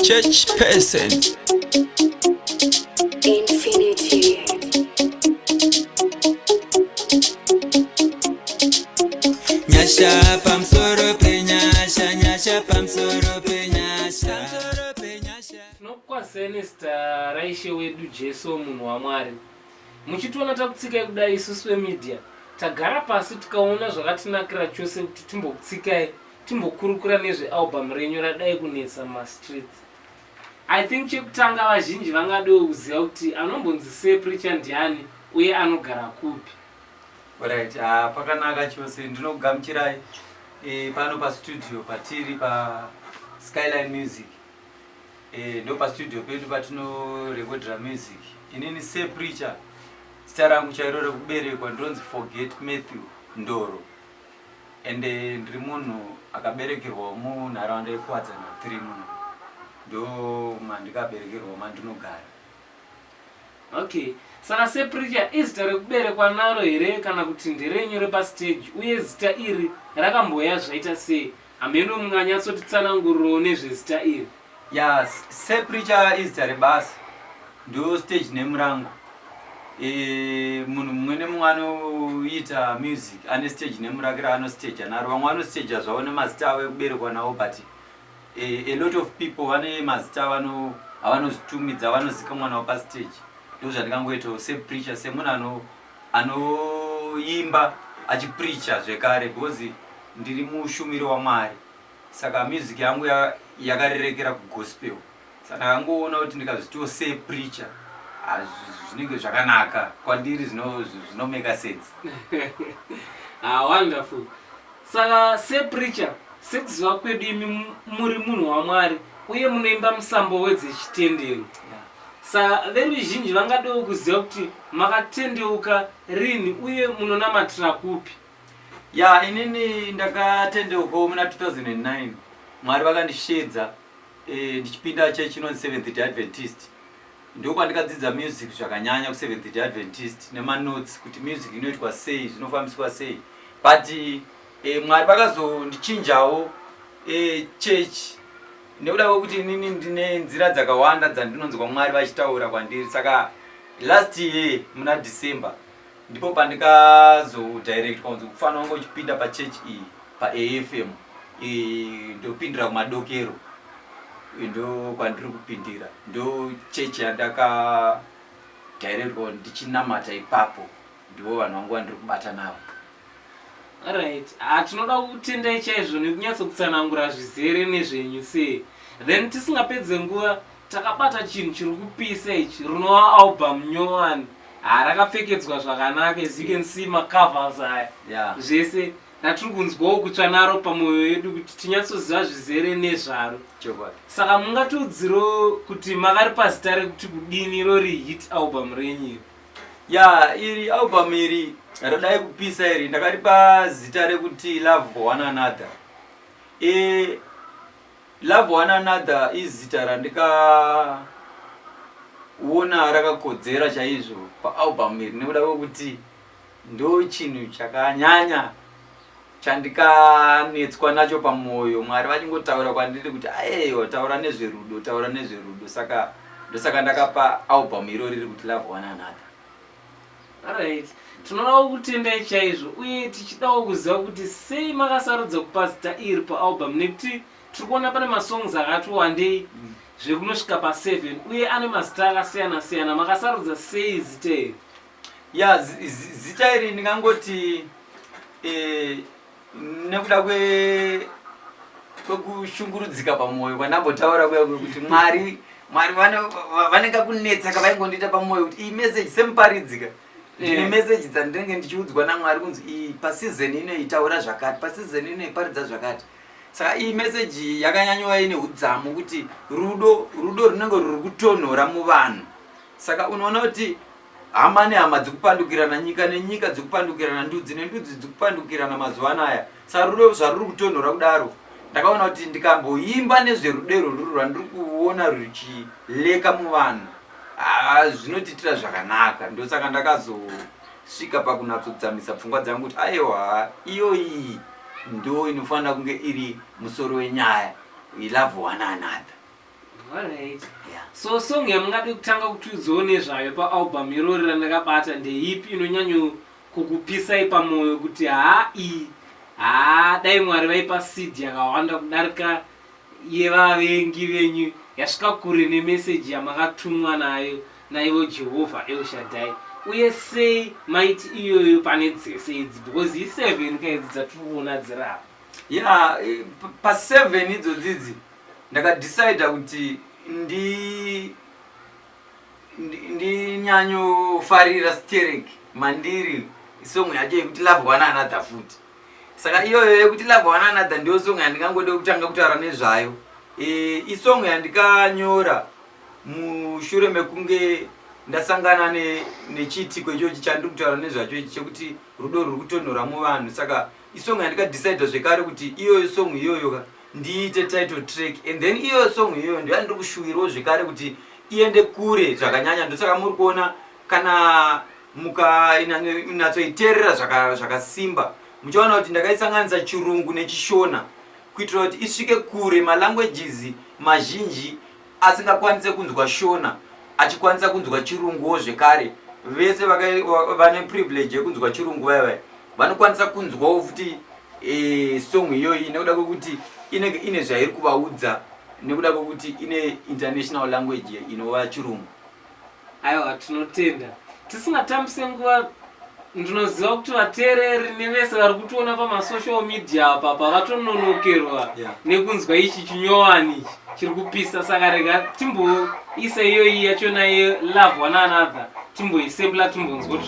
Church person. Infinity. Nyasha pamsoro pe nyasha, nyasha pamsoro pe nyasha. Pamsoro pe nyasha. tinokukwazisai nezita raishe wedu jesu munhu wamwari muchitiona takutsikai kudai isusu vemedia tagara pasi tikaona zvakatinakira chose kuti timbokutsikai timbokurukura nezvealbum renyu radai kunetsa mumastreets i think chekutanga vazhinji vangadewo kuziva kuti anombonzi sir pricha ndiani uye anogara kupi orit uh, ah, pakanaka chose ndinokugamuchirai e, pano pastudio patiri paskyline music e, eh, ndo pastudio pedu patinorekodera music inini sir pricha zita rangu chairo rekuberekwa ndinonzi forget matthew ndoro ende ndiri munhu akaberekerwawo munharaunda yekuwadzana 3 muno ndo mandikaberekerwawo mandinogara okay saka sepricha izita rekuberekwa naro here kana kuti nderenyu repastage uye zita iri rakamboya zvaita sei Hameno munganyatsotitsanangurirawo nezvezita iri? Yes, Sir Preacher izita rebasa. Ndo stage name rangu. Eh, munhu mumwe nemumwe anoita music ane stage name rake raanostaja naro. Vamwe vanostaja zvavo nemazita avo ekuberekwa nawo but eh, a lot of people vane mazita avano avanozvitumidza vanozikamwa nawo pastage. Ndozvandikangoitawo Sir Preacher semunhu ano anoimba achipreacher zvekare because ndiri mushumiri waMwari saka music yangu yakarerekera kugospel saka ndakangoona kuti ndikazvitiwo se preacher zvinenge zvakanaka kwandiri zvinomeka sense ah, wonderful saka se preacher sekuziva kwedu imi muri munhu wamwari uye munoimba musambo wedzechitendero Saka veruzhinji vangadewo kuziva kuti makatendeuka rinhi uye munonamatira kupi? Ya, inini ndakatendeukawo muna 2009. Mwari vakandisheedza eh, ndichipinda church inonzi Seventh Day Adventist. Ndokwandikadzidza music zvakanyanya kuSeventh Day Adventist nemanotes kuti music inoitwa sei, zvinofambiswa sei. But eh, Mwari vakazondichinjawo eh, church nekuda kwekuti inini ndine nzira dzakawanda dzandinonzwa mwari vachitaura kwandiri saka last year muna december ndipo pandikazodirect kwanzi kufanira kunge uchipinda pachurch iyi paafm ndopindira kumadokero ndo kwandiri kupindira ndo chechi yandaka directwa ndichinamata ipapo ndivo vanhu vangu vandiri kubata navo right ah, tinoda kutendai chaizvo nekunyatsokutsanangura zvizere nezvenyu sei then tisingapedze nguva takabata chinhu chiri kupisa ichi rinova album nyowani ha ah, rakapfekedzwa zvakanaka as you can see macovers aya yeah. zvese ratiri kunzwawo kutsva naro pamwoyo yedu kuti tinyatsoziva zvizere nezvaro saka mungatiudziro kuti makari pazita rekuti kudini rori hit album renyu iri ya iri album iri radai kupisa iri ndakaripa zita rekuti love for one another e, love one another izita randikaona rakakodzera chaizvo paalbum iri nekuda kwekuti ndo chinhu chakanyanya chandikanetswa nacho pamwoyo mwari vachingotaura kwandiri kuti ayeyo taura nezverudo taura nezverudo saka ndosaka ndakapa album iro riri kuti love one another right tinodawo kutendai chaizvo uye tichidawo kuziva kuti sei makasarudza kupa zita iri paalbum nekuti tiri kuona pane masongs akati wandei mm. zvekunosvika pa7 uye ane mazita akasiyana siyana makasarudza sei zita iri ya zita iri ndingangoti eh, nekuda kwekushungurudzika pamwoyo kwandambotaura kuya kuti mwari mwari vanenge kunetsa kavaingondiita pamwoyo kuti iyi meseji semuparidzika ndine eh. meseji dzandinenge ndichiudzwa namwari kunzi iyi pasizeni ino itaura zvakati pasizeni ino iparidza zvakati saka iyi meseji yakanyanyova ine udzamu kuti rudo rudo runenge ruri kutonhora muvanhu Saka unoona kuti hama nehama dzikupandukirana nyika nenyika dzikupandukirana ndudzi nendudzi dzikupandukirana mazuva anaya sarudo zvaruri kutonhora kudaro ndakaona kuti ndikamboimba nezverudo irworuri rwandiri kuona ruchileka muvanhu ah, zvinotiitira zvakanaka ndosaka ndakazosvika pakunatsodzamisa pfungwa dzangu kuti aiwa iyoyi ndo inofanira kunge iri musoro wenyaya we love one another so song yamungade kutanga kutiudzawo nezvayo paalbum irori randakabata ndeipi inonyanyo kukupisai pamwoyo kuti haa iyi haa dai mwari vaipa seed yakawanda kudarika yevavengi venyu yasvika kure nemeseji yamakatumwa nayo naivo jehovha elshadai uye sei maiti iyoyo pane dzese idzi because iseven kaidzi dzatiri kuona dzirapa ya eh, paseven idzodzidzi ndakadecider kuti ndi ndinyanyofarira sterek mandiri isong yacho yekuti love one another futi saka iyoyo yekuti love one another ndiyo song yandingangode kutanga kutaura nezvayo e, isong yandikanyora mushure mekunge ndasangana nechiitiko ichochi chandiri kutaura nezvacho ichi chekuti rudo ruri kutonhora muvanhu saka isong yandikadecider zvekare kuti iyoyo song iyoyoka ndiite title track and then iyo song iyoyo ndiyo yandiri kushuwirawo zvekare kuti iende kure zvakanyanya ndosaka muri kuona kana mukanatsoiterera zvakasimba muchaona kuti ndakaisanganisa chirungu nechishona kuitira kuti isvike kure malanguages mazhinji asingakwanise kunzwa Shona achikwanisa kunzwa chirunguwo zvekare vese vane privilege yekunzwa chirungu vaya vaya vanokwanisa kunzwawo futi e, song iyoyi nekuda kwekuti inenge ine zvairi kuvaudza nekuda kwekuti ine international language inova chirungu aiwa tinotenda tisingatambise nguva ndinoziva kuti vateereri nevese vari kutiona pamasocial media apa apa vatononokerwa Yeah. nekunzwa ichi chinyowani ichi chiri kupisa saka rega timboisa iyoyi yachona ye love one another timboisembla timbonzwa kuti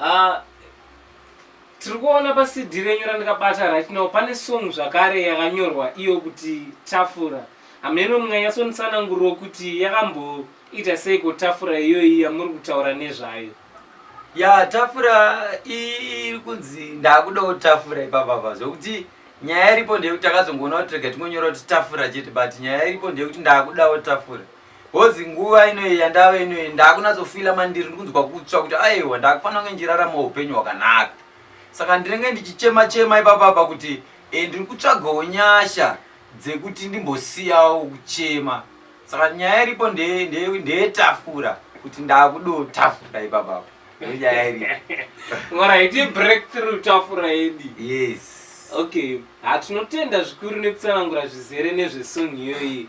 Ah, tiri kuona pacd renyu randikabata right now pane song zvakare yakanyorwa iyo kuti tafura hameno munganyatsontsananguriro kuti yakamboita seiko tafura iyoyi yamuri kutaura nezvayo ya tafura iri kunzi ndakudawo tafura ipapapa zvokuti nyaya iripo ndeyekuti takazongoona kuti rega tingonyora kuti tafura chete but nyaya iripo ndeyekuti ndakudawo tafura Hozi nguva inoyi yandave inoyi ndakunatsofila mandiri ndikunzwa kutsva kuti aiwa ndakufanira kunge ndichirarama upenyu hwakanaka saka ndinenge ndichichema chema ipapapa kuti e, ndiri kutsvagawo nyasha dzekuti ndimbosiyawo kuchema saka nyaya iripo ndeyetafura nde, nde kuti ndakudo tafura ipapapa nyaya iripo right breakthrough tafura yedi yes okay hatinotenda zvikuru nekutsanangura zvizere nezvesong iyoyi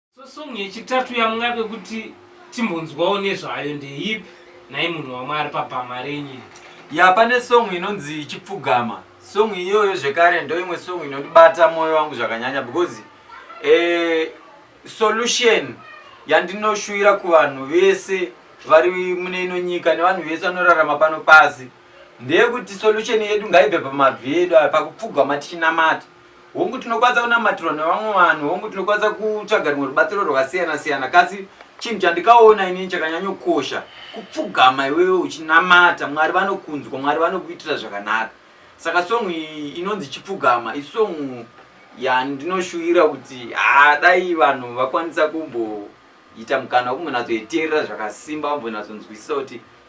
So song yechitatu yamungade kuti timbonzwawo nezvayo ndeipi nhai munhu wamwari pabhama renyu ya pane song inonzi chipfugama song iyoyo zvekare ndo imwe song inondibata mwoyo wangu zvakanyanya because eh, solution yandinoshuwira kuvanhu vese vari mune ino nyika nevanhu vese vanorarama pano pasi ndeyekuti solution yedu ngaibve pamabvi edu ayo pakupfugama tichinamata Hongu tinokwanisa kunamatirwa nevamwe vanhu, hongu tinokwanisa kutsvaga rumwe rubatsiro rwakasiyana siyana kasi chinhu chandikaona inini chakanyanyokosha kupfugama iwewe uchinamata mwari vanokunzwa mwari vanokuitira zvakanaka saka songu iyi inonzi chipfugama isongu yandinoshuvira kuti haa dai vanhu vakwanisa kumboita mukana wekumbonazoiterera zvakasimba vambonatsonzwisisa kuti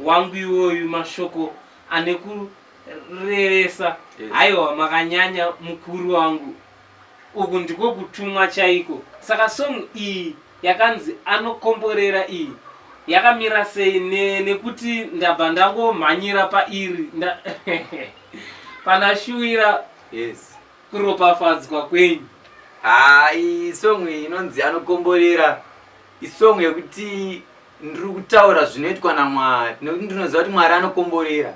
wangu iwoyu mashoko ane kurevesa haiwa makanyanya mukuru wangu uku ndiko kutumwa chaiko saka song iyi yakanzi anokomborera iyi yakamira sei ne, nekuti ndabva ndangomhanyira pairi nda pana shuwira yes kuropafadzwa kwenyu haa isong iyi inonzi anokomborera isong yekuti Ndiri kutaura zvinoitwa naMwari nekuti ndinoziva kuti Mwari anokomborera.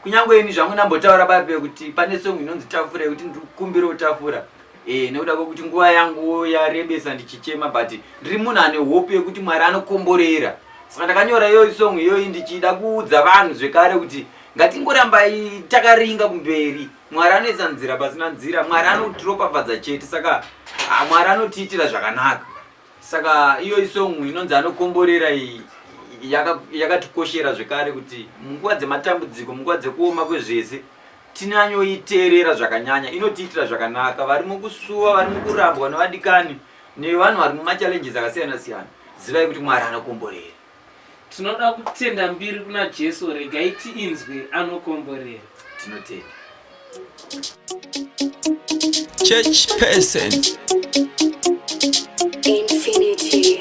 Kunyange ini zvangu ndambotaura babe kuti pane song inonzi tafura yekuti ndiri kukumbira utafura eh, nekuda kwekuti nguva yangu yarebesa ndichichema but ndiri munhu ane hope yekuti Mwari anokomborera. Saka ndakanyora iyoyi song iyoyi ndichida kuudza vanhu zvekare kuti ngatingorambai takaringa kumberi mwari anoisa nzira pasina nzira mwari anotiropafadza chete saka mwari anotiitira zvakanaka saka iyo isong inonzi anokomborera iyi yakatikoshera yaka zvekare kuti munguva dzematambudziko munguva dzekuoma kwezvese tinanyoiteerera zvakanyanya inotiitira zvakanaka vari mukusuwa vari mukurambwa nevadikani nevanhu vari mumachallenges akasiyana siyana zivai kuti mwari anokomborera Tinoda kutenda mbiri kuna Jesu regai tiinzwe anokomborera. Tinotenda. Church person. Infinity.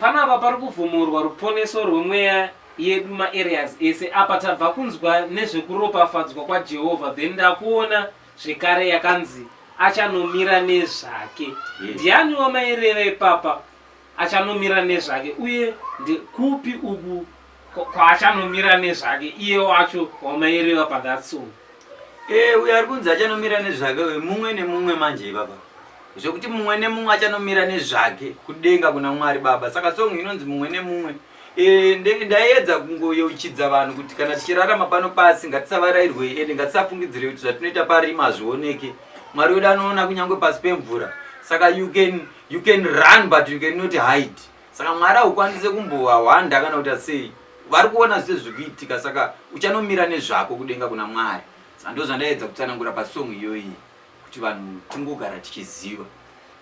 Panapa pari kuvhomorwa ruponeso rwemweya yedu ma areas ese apa tabva kunzwa nezvekuropafadzwa kwaJehovha then ndakuona zvekare yakanzi achanomira nezvake Yes. ndiani wamaireva ipapa achanomira nezvake uye ndekupi uku kwaachanomira nezvake iye wacho wamaireva pathat song ee eh, uyo ari kunzi achanomira nezvake uyo mumwe nemumwe manje ivava zvekuti mumwe nemumwe achanomira nezvake kudenga kuna mwari baba saka song inonzi mumwe nemumwe eh, ndaiedza kungoyeuchidza vanhu kuti kana tichirarama pano pasi ngatisavarairwe ende ngatisafungidzire kuti zvatinoita parima hazvioneke mwari wedu anoona kunyange pasi pemvura saka you can, you can run but you cannot hide saka mwari haukwanise kumbohwanda kana kuita sei vari kuona zvese zviri kuitika saka uchanomira nezvako kudenga kuna mwari saka ndo zvandaedza kutsanangura pasong iyoyi kuti vanhu tingogara tichiziva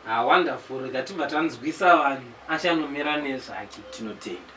ah, wonderful rega tibva tanzwisa vanhu achanomira nezvake tinotenda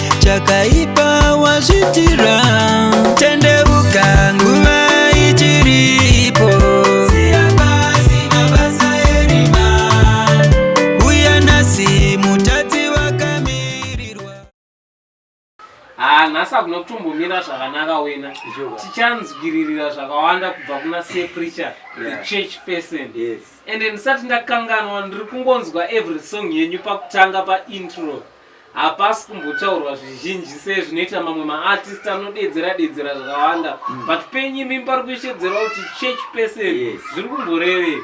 chakaipa wazvitira tendeuka nguva ichiripo uya nhasi mutadzi wakamirirwa haa nhasi hakuna kutombomira zvakanaka wena tichanzwiririra zvakawanda kubva kuna sir preacher the Yeah. church person Yes. ende ndisati ndakanganwa ndiri kungonzwa every song yenyu pakutanga paintro hapasi kumbotaurwa zvizhinji sezvinoita mamwe maartist anodeedzera deedzera zvakawanda mm. but penyu imi pari kushedzera kuti church person yes. zviri kumborevei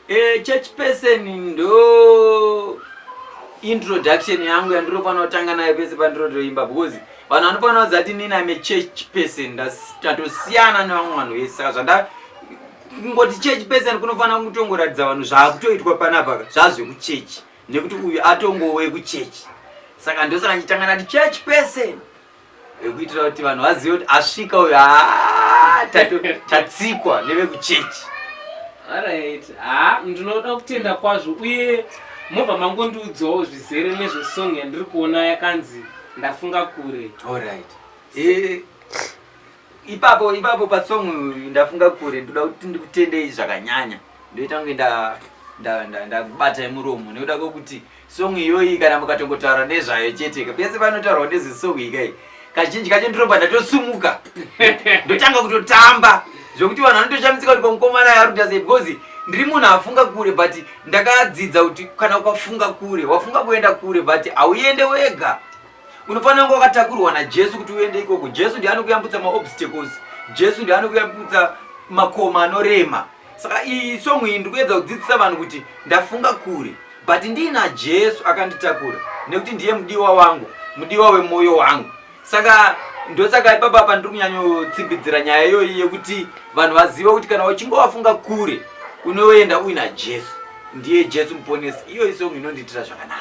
eh, church person ndo introduction yangu yandirofanira kutanga nayo pese pandirotoimba because vanhu vanofanira kuziva kuti nini ame church person tatosiyana nevamwe vanhu vese saka zvanda kungoti church person kunofanira kutongoratidza vanhu zvaakutoitwa panapaka zvazvekuchechi nekuti uyu atongowe kuchechi saka ndosaka ndichitanga nati church person ekuitira kuti vanhu vazive kuti asvika uyu ah, tatsikwa nevekuchechi arit ha ah, ndinoda kutenda kwazvo uye mobva mangondiudzawo zvizere nezvesong yandiri kuona yakanzi ndafunga kure allright eh, ipapo ipapo pasong uyu ndafunga kure ndoda kuti ndikutendei zvakanyanya ndoita kunge ndakubatai muromo nekuda kwekuti song iyoyi kana mukatongotaura nezvayo chete pese panotaurwa nezesong ikai kazhinji kacho ndinobva ndatosumuka ndotanga kutotamba zvekuti vanhu vanotoshamisika kuti kwamukomana yaruda sei because ndiri munhu afunga kure but ndakadzidza kuti kana ukafunga kure wafunga kuenda kure but hauende wega Unofanira kunge wakatakurwa naJesu kuti uende ikoko. Jesu ndiye anokuyambutsa maobstacles. Jesu ndiye anokuyambutsa makoma anorema. Saka iyi song iyi ndikuedza kudzidzisa vanhu kuti ndafunga kure but ndiina Jesu akanditakura nekuti ndiye mudiwa wangu, mudiwa wemoyo wangu. Saka ndosaka ipapa apa ndiri kunyanyotsimbidzira nyaya iyoyi yekuti vanhu vazive kuti kana uchinge wafunga kure unoenda uina Jesu. Ndiye Jesu muponesi. Iyo isong inondiitira zvakanaka.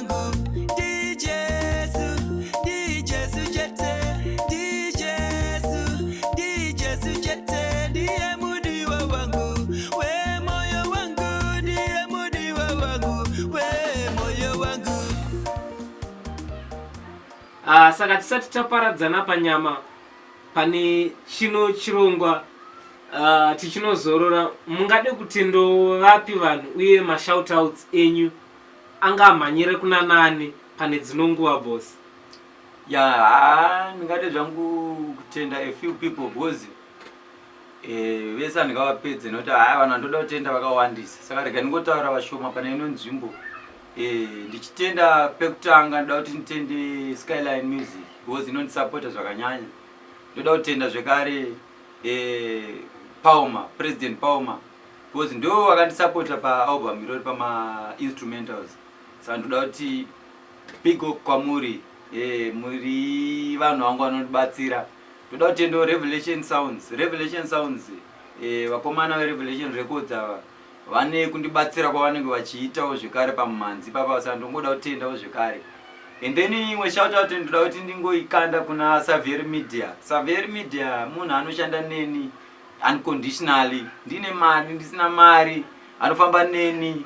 Uh, saka tisati taparadzana panyama pane chino chirongwa uh, tichinozorora mungade kuti ndovapi vanhu uye mashoutouts enyu Anga amhanyire kuna nani pane dzino nguva boss. Yaa haa ndingade zvangu kutenda a few people because eh, vese handingavapedze nekuti haa vanhu vandoda kutenda vakawandisa saka rega ndingotaura vashoma pane ino nzvimbo eh, ndichitenda pekutanga ndoda kuti nditende skyline music because inondisapota zvakanyanya ndoda kutenda zvekare eh, pauma president pauma Because ndo vakandisapota paalbum irori pamainstrumentals saka ndoda kuti big up kwamuri e, muri vanhu vangu vanondibatsira ndoda kuti endo revelation sounds revelation sounds e, vakomana verevelation records ava vane kundibatsira kwavanenge vachiitawo zvekare pamumhanzi papa saka ndongoda kutendawo zvekare and then imwe shoutout ndoda kuti ndingoikanda kuna savier media savier media munhu anoshanda neni unconditionally ndine mari ndisina mari anofamba neni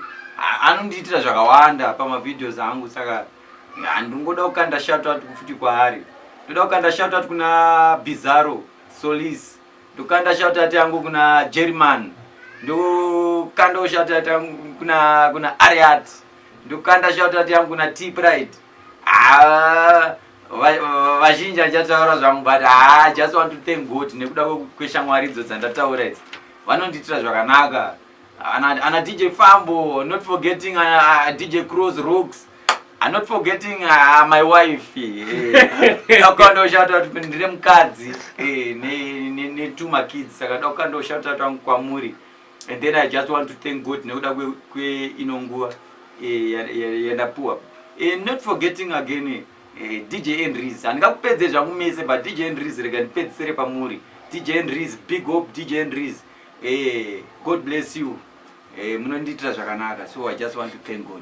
anondiitira zvakawanda pamavideos angu saka handingoda kukanda shoutout kufuti kwaari ndoda kukanda shoutout kuna bizarro solis ndokanda shoutout yangu kuna german ndokandawo shoutout yangu kuna kuna ariat ndokanda shoutout yangu kuna t pride Ah, vazhinji achataura zvangu but haa just want to thank god nekuda kweshamwari idzo dzandataura idzi vanondiitira zvakanaka ana dj fambo not forgetting uh, uh, dj cross rooks I'm not forgetting uh, my wife ndakandoshauta kuti ndine mukadzi eh, netuma kids saka ndakandoshauta tangu kwamuri and then i just want to thank god nekuda kweino nguva eh, yandapuwa eh, not forgetting again eh, dj enris handingakupedze zvangu mese but dj enris rega ndipedzisere pamuri dj enris big hope dj enris god bless you munondiitira zvakanaka so i just want to thank god